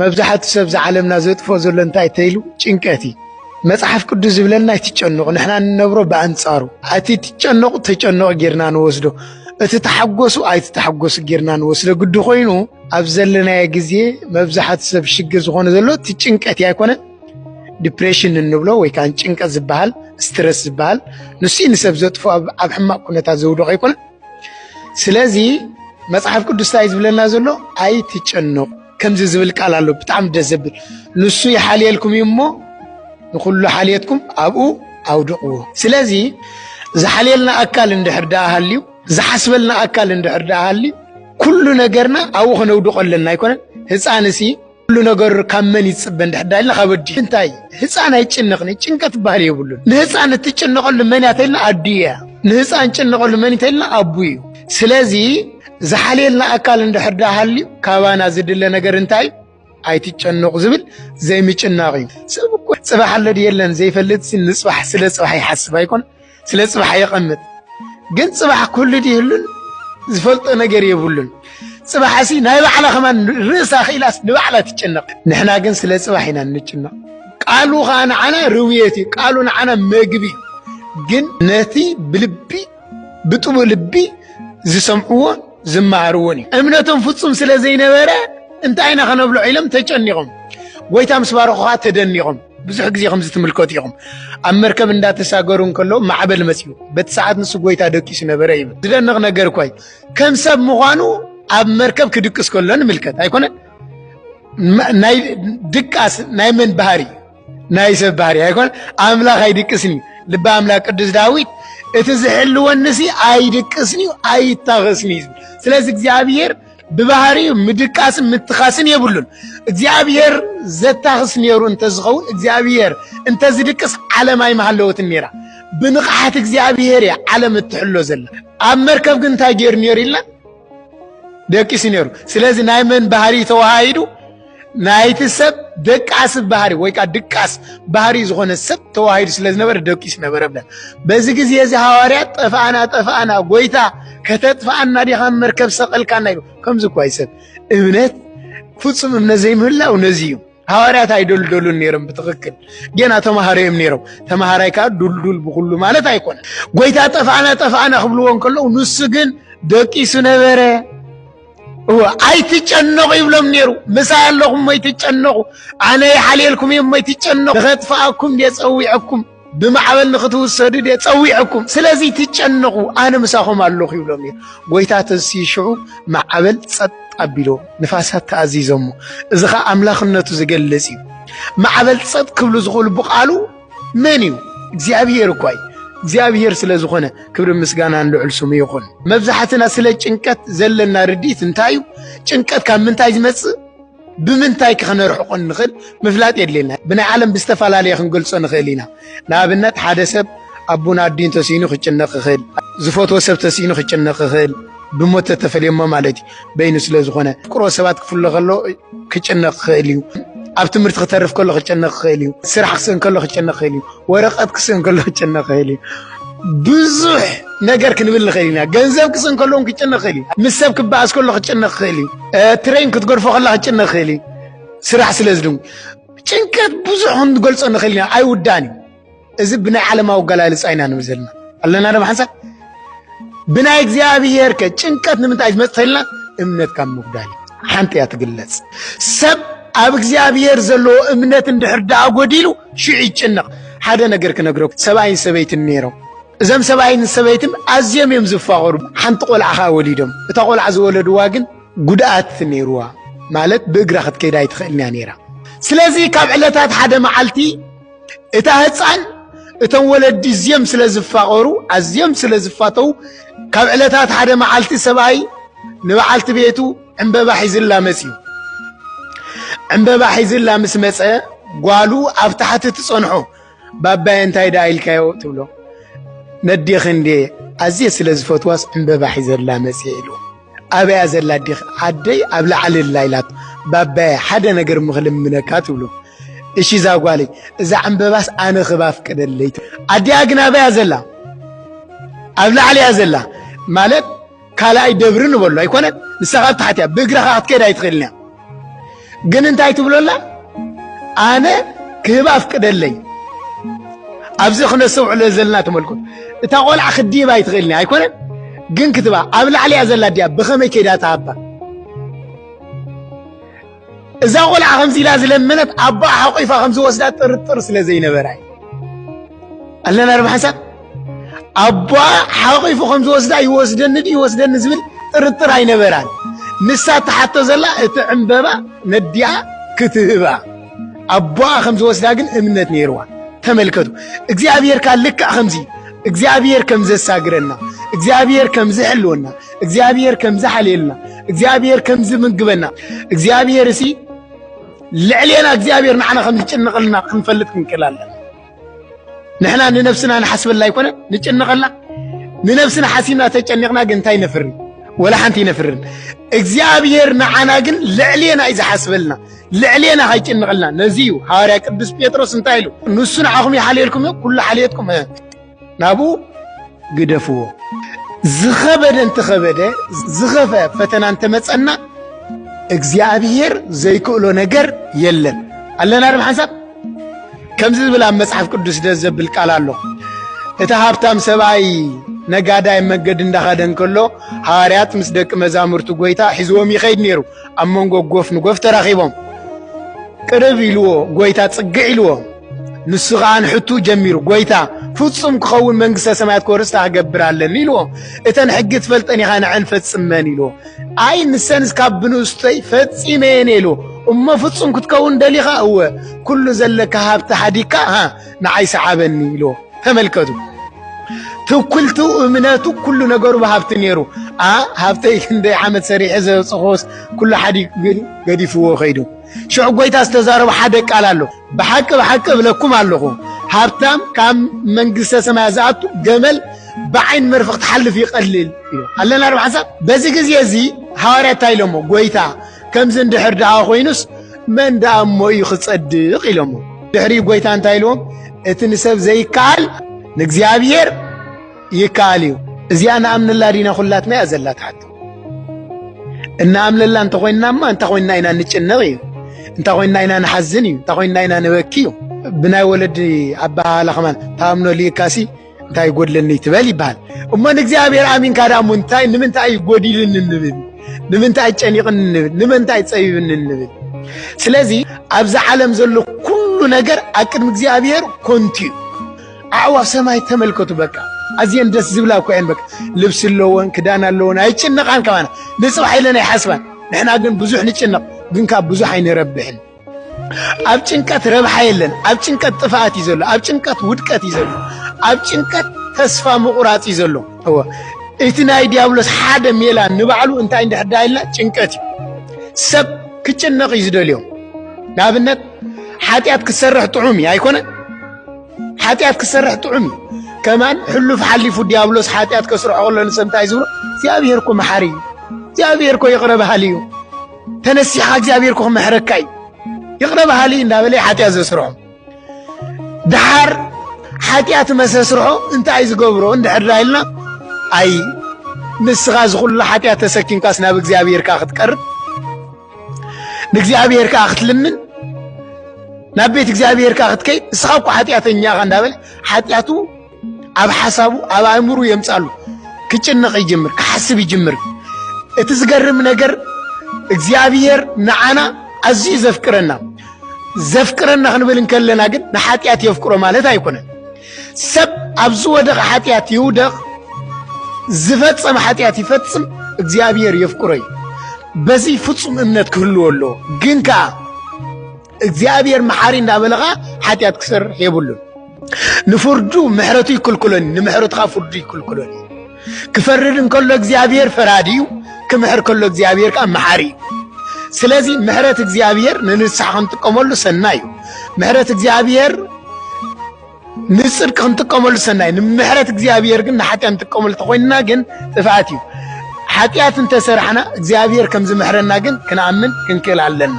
መብዛሕቲ ሰብ ዝዓለምና ዘጥፍኦ ዘሎ እንታይ ተይሉ ጭንቀት እዩ። መጽሓፍ ቅዱስ ዝብለና ኣይትጨነቑ፣ ንሕና እንነብሮ ብኣንጻሩ እቲ ትጨነቑ ተጨነቑ ጌርና ንወስዶ፣ እቲ ተሓጎሱ ኣይትተሓጎሱ ጌርና ንወስዶ ግዲ ኮይኑ ኣብ ዘለናዮ ግዜ መብዛሕቲ ሰብ ሽግር ዝኾነ ዘሎ እቲ ጭንቀት እዩ ኣይኮነን ዲፕሬሽን እንብሎ ወይ ከዓ ጭንቀት ዝበሃል ስትረስ ዝበሃል ንሱ ንሰብ ዘጥፎ ኣብ ሕማቅ ኩነታት ዘውድቆ ኣይኮነን። ስለዚ መጽሓፍ ቅዱስ እንታይ ዝብለና ዘሎ ኣይትጨነቑ ከምዚ ዝብል ቃል ኣሎ ብጣዕሚ ደስ ዘብል ንሱ ይሓልየልኩም እዩ እሞ ንኩሉ ሓልየትኩም ኣብኡ ኣውድቕዎ ስለዚ ዝሓልየልና ኣካል እንድሕር ደኣ ሃልዩ ዝሓስበልና ኣካል እንድሕር ደኣ ሃልዩ ኩሉ ነገርና ኣብኡ ከነውድቆ ኣለና ኣይኮነን ህፃን እሲ ኩሉ ነገሩ ካብ መን ይፅበ እንድሕር ዳ ኢልና ካብ ኣዲ እንታይ ህፃን ኣይጭነቕን ጭንቀት ባህል የብሉን ንህፃን እትጭነቐሉ መን እያ ተልና ኣዲ እያ ንህፃን ጭነቐሉ መን እዩ ተልና ኣቡ እዩ ስለዚ ዝሓልየልና ኣካል እንድሕር ደኣ ሃልዩ ካባና ዝድለ ነገር እንታይ ኣይትጨነቑ ዝብል ዘይምጭናቕ እዩ። ሰብ እኮ ፅባሕ ኣሎ ድዩ የለን ዘይፈልጥ ንፅባሕ ስለ ፅባሕ ይሓስብ ኣይኮን ስለ ፅባሕ የቐምጥ። ግን ፅባሕ ኩሉ ድህሉን ዝፈልጦ ነገር የብሉን። ፅባሕ እሲ ናይ ባዕላ ከማን ርእሳ ክኢላስ ንባዕላ ትጨነቕ። ንሕና ግን ስለ ፅባሕ ኢና እንጭነቕ። ቃሉ ከዓ ንዓና ርውየት እዩ። ቃሉ ንዓና መግቢ እዩ። ግን ነቲ ብልቢ ብጥቡ ልቢ ዝሰምዕዎን ዝመሃርዎን እዩ እምነቶም ፍጹም ስለ ዘይነበረ እንታይ ኢና ከነብሎ ኢሎም ተጨኒቖም ጎይታ ምስ ባረኹ ከዓ ተደኒቖም ብዙሕ ግዜ ከምዚ ትምልከቱ ኢኹም ኣብ መርከብ እንዳተሳገሩ እንከለዉ ማዕበል መፅኡ በቲ ሰዓት ንሱ ጎይታ ደቂሱ ነበረ ይብል ዝደንቕ ነገር እኳ ከም ሰብ ምዃኑ ኣብ መርከብ ክድቅስ ከሎ ንምልከት ኣይኮነን ናይ ድቃስ ናይ መን ባህሪ ናይ ሰብ ባህሪ ኣይኮነ ኣምላኽ ኣይድቅስን እዩ ልቢ ኣምላኽ ቅዱስ ዳዊት እቲ ዝሕልወንሲ ኣይድቅስን እዩ ኣይታኸስን እዩ ስለዚ እግዚኣብሔር ብባህሪኡ ምድቃስን ምትኻስን የብሉን እግዚኣብሔር ዘታኽስ ነይሩ እንተዝኸውን እግዚኣብሔር እንተዝድቅስ ዓለም ኣይመሃለወትን ነይራ ብንቕሓት እግዚኣብሔር እያ ዓለም እትሕሎ ዘላ ኣብ መርከብ ግን እንታይ ገይሩ ነይሩ ኢልና ደቂሱ ነይሩ ስለዚ ናይ መን ባህሪ ተዋሃሂዱ ናይቲ ሰብ ደቃስ ባህሪ ወይ ከዓ ድቃስ ባህሪ ዝኾነ ሰብ ተዋሂዱ ስለ ዝነበረ ደቂሱ ነበረ ብለን በዚ ግዜ እዚ ሃዋርያት ጠፍኣና ጠፍኣና ጎይታ ከተጥፍኣና ዲኻ መርከብ ሰቐልካና ኢሉ ከምዚ እኳ ይሰብ እምነት ፍፁም እምነት ዘይምህላው ነዚ እዩ ሃዋርያት ኣይደልደሉን ነይሮም ብትክክል ጌና ተምሃሮ እዮም ነይሮም ተምሃራይ ከዓ ዱልዱል ብኩሉ ማለት ኣይኮነ ጎይታ ጠፍኣና ጠፍኣና ክብልዎ እንከለዉ ንሱ ግን ደቂሱ ነበረ እወ ኣይትጨነቑ ይብሎም ነይሩ ምሳይ ኣለኹም ኣይትጨነቑ ኣነ ይሓልየልኩም እዮም ኣይትጨነቑ ንኸጥፍኣኩም እየ ፀዊዐኩም ብማዕበል ንክትውሰዱ ድየ ጸዊዐኩም፣ ስለዚ ትጨነቑ፣ ኣነ ምሳኹም ኣለኹ ይብሎም እዩ። ጎይታ ተንስዩ ሽዑ ማዕበል ጸጥ ኣቢሎ ንፋሳት ተኣዚዞሞ። እዚ ኸኣ ኣምላኽነቱ ዝገልጽ እዩ። ማዕበል ጸጥ ክብሉ ዝኽእሉ ብቃሉ መን እዩ? እግዚኣብሄር እኳ እዩ። እግዚኣብሄር ስለ ዝኾነ ክብሪ ምስጋናን ልዑል ስሙ ይኹን። መብዛሕትና ስለ ጭንቀት ዘለና ርድኢት እንታይ እዩ? ጭንቀት ካብ ምንታይ ዝመጽእ ብምንታይ ከነርሕቆ ንኽእል ምፍላጥ የድልየና ብናይ ዓለም ብዝተፈላለየ ክንገልጾ ንኽእል ኢና ንኣብነት ሓደ ሰብ ኣቡን ኣዲን ተሲኑ ክጭነቕ ይኽእል ዝፈትዎ ሰብ ተሲኑ ክጭነቕ ይኽእል ብሞት ተተፈልየሞ ማለት እዩ በይኑ ስለ ዝኾነ ቅሮ ሰባት ክፍሎ ከሎ ክጭነቕ ክኽእል እዩ ኣብ ትምህርቲ ክተርፍ ከሎ ክጨነቕ ክኽእል እዩ ስራሕ ክስእን ከሎ ክጨነቕ ክኽእል እዩ ወረቀት ክስእን ከሎ ክጭነቅ ይኽእል እዩ ብዙሕ ነገር ክንብል ንኽእል ኢና ገንዘብ ክስእን ከሎ እውን ክጭነቅ ይኽእል እዩ ምስ ሰብ ክበኣስ ከሎ ክጭነቅ ይኽእል እዩ ትሬን ክትገድፎ ከላ ክጭነቅ ይኽእል እዩ ስራሕ ስለ ዝድንጉ ጭንቀት ብዙሕ ክንገልፆ ንኽእል ኢና ኣይውዳእን እዩ እዚ ብናይ ዓለማዊ ኣገላልፃ ኢና ንብል ዘለና ኣለና ዶ ብሓንሳብ ብናይ እግዚኣብሔር ከ ጭንቀት ንምንታይ ዝመፅተልና እምነት ካብ ምጉዳል ሓንቲ እያ ትግለፅ ሰብ ኣብ እግዚኣብሔር ዘለዎ እምነት እንድሕር ደኣ ጎዲሉ ሽዑ ይጭነቕ ሓደ ነገር ክነግረኩ ሰብኣይን ሰበይትን ነይሮም እዞም ሰብኣይን ሰበይትን ኣዝዮም እዮም ዝፋቐሩ ሓንቲ ቆልዓ ከዓ ወሊዶም እታ ቆልዓ ዝወለድዋ ግን ጉድኣት ነይርዋ ማለት ብእግራ ክትከይድ ኣይትኽእልን እያ ነይራ ስለዚ ካብ ዕለታት ሓደ መዓልቲ እታ ህፃን እቶም ወለዲ እዝዮም ስለ ዝፋቐሩ ኣዝዮም ስለ ዝፋተው ካብ ዕለታት ሓደ መዓልቲ ሰብኣይ ንበዓልቲ ቤቱ ዕምበባ ሒዝላ መፅዩ ዕምበባ ሒዝላ ምስ መፀ ጓሉ ኣብ ታሕቲ ትፀንሖ ባባየ እንታይ ደኣ ኢልካዮ ትብሎ ነዴኺ እንዴ ኣዝየ ስለ ዝፈትዋስ ዕምበባ ሒዘላ መፅየ ኢሉ ኣበያ ዘላ ኣዴኺ? ኣደይ ኣብ ላዕሊ ኣላ ኢላቶ። ባባየ ሓደ ነገር እሞ ክልምነካ ትብሎ። እሺ ዛጓለይ እዛ ዕምበባስ ኣነ ክብ ኣፍቅደለይ። ኣዲኣ ግን ኣበያ ዘላ? ኣብ ላዕሊ እያ ዘላ ማለት ካልኣይ ደብሪ ንበሎ ኣይኮነን ንሳኻ ኣብ ታሕቲ እያ ብእግራኻ ክትከይድ ኣይትኽእልን እያ ግን እንታይ ትብሎላ ኣነ ክህብ ኣፍቅደለይ ኣብዚ ክነሰውዕሎ ዘለና ተመልኩት እታ ቆልዓ ክዲብ ኣይትኽእልኒ ኣይኮነን ግን ክትባ ኣብ ላዕሊ እያ ዘላ ድያ ብኸመይ ከይዳ ትሃባ እዛ ቆልዓ ከምዚ ኢላ ዝለመነት ኣቦኣ ሓቂፋ ከምዝወስዳ ጥርጥር ስለ ዘይነበራ ኣለና ዶ ሓንሳብ ኣቦኣ ሓቂፉ ከም ዝወስዳ ይወስደኒ ድዩ ይወስደኒ ዝብል ጥርጥር ኣይነበራን። ንሳ እትሓቶ ዘላ እቲ ዕምበባ ነዲኣ ክትህባ ኣቦኣ ከም ዝወስዳ ግን እምነት ነይርዋ። ተመልከቱ፣ እግዚኣብሔር ካል ልክዕ ከምዚ እግዚኣብሔር ከም ዘሳግረና፣ እግዚኣብሔር ከም ዝሕልወና፣ እግዚኣብሔር ከም ዝሓልየልና፣ እግዚኣብሔር ከም ዝምግበና፣ እግዚኣብሔር እሲ ልዕሌና እግዚኣብሔር ንዓና ከም ዝጭንቕልና ክንፈልጥ ክንክእል ኣለና። ንሕና ንነብስና ንሓስበላ ኣይኮነ ንጭነቐላ ንነብስና ሓሲብና ተጨኒቕና ግን እንታይ ነፍሪ ወላ ሓንቲ ይነፍርን እግዚኣብሔር ንዓና ግን ልዕሌና እዩ ዝሓስበልና ልዕሌና ሃይጭንቕልና ነዚ እዩ ሃዋርያ ቅዱስ ጴጥሮስ እንታይ ኢሉ ንሱ ንዓኹም ይሓልየልኩም እዩ ኩሉ ሓልየትኩም ናብኡ ግደፍዎ። ዝኸበደ እንተኸበደ ዝኸፈ ፈተና እንተመጸና እግዚኣብሔር ዘይክእሎ ነገር የለን። ኣለና ድም ሓንሳብ ከምዚ ዝብል ኣብ መጽሓፍ ቅዱስ ደስ ዘብል ቃል ኣሎ። እቲ ሃብታም ሰብኣይ ነጋዳይ መገዲ እንዳኸደ እንከሎ ሃዋርያት ምስ ደቂ መዛሙርቲ ጎይታ ሒዝዎም ይኸይድ ነይሩ። ኣብ መንጎ ጎፍ ንጎፍ ተራኺቦም ቅርብ ኢልዎ ጎይታ ጽግዕ ኢልዎ ንሱ ኸዓ ንሕቱ ጀሚሩ ጐይታ ፍጹም ክኸውን መንግሥተ ሰማያት ክወርስ ታገብር ኣለኒ ኢልዎ እተን ሕጊ ትፈልጠን ኢኻ ንዐን ፈጽመን ኢልዎ ኣይ ንሰንስ ካብ ብንእስተይ ፈጺመ እየን ኢሉ እሞ ፍጹም ክትከውን ደሊኻ እወ ኩሉ ዘለካ ሃብቲ ሓዲካ ንዓይ ሰዓበኒ ኢልዎ ተመልከቱ ትኩልቱ እምነቱ ኩሉ ነገሩ ብሃብቲ ነይሩ ሃብተይ ክንደይ ዓመት ሰሪሐ ዘብፅኾስ ኩሉ ሓዲ ገዲፍዎ ከይዱ ሽዑ ጎይታ ዝተዛረቡ ሓደ ቃል ኣሎ ብሓቂ ብሓቂ እብለኩም ኣለኹ ሃብታም ካብ መንግስተ ሰማያት ዝኣቱ ገመል ብዓይን መርፍቕ ትሓልፍ ይቐልል እዩ ኣለና ዶ ሓንሳብ በዚ ግዜ እዚ ሃዋርያ እንታይ ኢሎሞ ጎይታ ከምዚ እንድሕር ደኣ ኮይኑስ መን ደኣ እሞ እዩ ክጸድቕ ኢሎሞ ድሕሪ ጎይታ እንታይ ኢልዎም እቲ ንሰብ ዘይከኣል ንእግዚኣብሔር ይከኣል እዩ እዚኣ ንኣምንላ ዲና ዅላትና እያ ዘላ ትሓቶ እናኣምለላ እንተኾይንናማ እንታይ ኮይንና ኢና ንጭነቕ እዩ እንታ ኮይንና ኢና ንሓዝን እዩ እንታ ኮይንና ኢና ንበኪ እዩ ብናይ ወለዲ ኣበሃህላ ከማን ታኣምኖ ልእካሲ እንታይ ይጎድለኒ ትበል ይበሃል እሞ ንእግዚኣብሔር ኣሚንካ ዳ እሞ እንታይ ንምንታይ እዩ ጎዲልኒ ንብል ንምንታይ ጨኒቕኒ ንብል ንምንታይ ፀቢብኒ ንብል ስለዚ ኣብዚ ዓለም ዘሎ ኩሉ ነገር ኣብ ቅድሚ እግዚኣብሔር ኮንቱ እዩ ኣዕዋፍ ሰማይ ተመልከቱ በቃ ኣዝየን ደስ ዝብላ እኮ እየን በቃ ልብሲ ኣለወን ክዳን ኣለወን ኣይጭነቃን ከማና ንፅባሕ ኢለን ኣይሓስባን ንሕና ግን ብዙሕ ንጭነቕ ግን ካብ ብዙሕ ኣይንረብሕን ኣብ ጭንቀት ረብሓ የለን ኣብ ጭንቀት ጥፍኣት እዩ ዘሎ ኣብ ጭንቀት ውድቀት እዩ ዘሎ ኣብ ጭንቀት ተስፋ ምቑራፅ እዩ ዘሎ እወ እቲ ናይ ዲያብሎስ ሓደ ሜላ ንባዕሉ እንታይ እንድሕዳ ኢልና ጭንቀት እዩ ሰብ ክጭነቕ እዩ ዝደልዮ ንኣብነት ሓጢኣት ክትሰርሕ ጥዑም እዩ ኣይኮነን ሓጢኣት ክሰርሕ ጥዑም እዩ ከማን ሕሉፍ ሓሊፉ ዲያብሎስ ሓጢኣት ከስርሖ ከሎ ንሰብ እንታይ ዝብሎ እግዚኣብሔር እኮ መሓሪ እዩ እግዚኣብሔር እኮ ይቕረ በሃሊ እዩ ተነሲሕኻ እግዚኣብሔር እኮ ክምሕረካ እዩ ይቕረ በሃሊ እንዳበለ ሓጢኣት ዘስርሖ ድሓር ሓጢኣት መሰስርሖ እንታይ ዝገብሮ እንድሕር ኢልና ኣይ ንስኻ ዝኹሉ ሓጢኣት ተሰኪምካስ ናብ እግዚኣብሔርካ ክትቀርብ ንእግዚኣብሔር ከዓ ክትልምን ናብ ቤት እግዚኣብሔር ከዓ ክትከይድ ንስኻ እኮ ሓጢኣተኛ ኢኻ እንዳበለ ሓጢኣቱ ኣብ ሓሳቡ ኣብ ኣእምሩ የምፃሉ ክጭነቕ ይጅምር ክሓስብ ይጅምር እቲ ዝገርም ነገር እግዚኣብሔር ንዓና ኣዝዩ ዘፍቅረና ዘፍቅረና ክንብል እንከለና ግን ንሓጢኣት የፍቅሮ ማለት ኣይኮነን ሰብ ኣብ ዝወደቐ ሓጢኣት ይውደቕ፣ ዝፈጸመ ሓጢኣት ይፈጽም፣ እግዚኣብሔር የፍቅሮ እዩ። በዚ ፍጹም እምነት ክህልዎ ኣለዎ። ግን ከዓ እግዚኣብሔር መሓሪ እንዳበለ ከዓ ሓጢኣት ክሰርሕ የብሉን። ንፍርዱ ምሕረቱ ይክልክሎን፣ ንምሕረትኻ ፍርዱ ይክልክሎን። ክፈርድ እንከሎ እግዚኣብሔር ፈራዲ እዩ፣ ክምሕር ከሎ እግዚኣብሔር ከዓ መሓሪ እዩ። ስለዚ ምሕረት እግዚኣብሔር ንንስሓ ክንጥቀመሉ ሰናይ እዩ። ምሕረት እግዚኣብሔር ንፅድቂ ክንጥቀመሉ ሰናይ ንምሕረት እግዚኣብሔር ግን ንሓጢያ ንጥቀመሉ ተኮይንና ግን ጥፍኣት እዩ። ሓጢኣት እንተሰራሕና እግዚኣብሔር ከም ዝምሕረና ግን ክንኣምን ክንክእል ኣለና።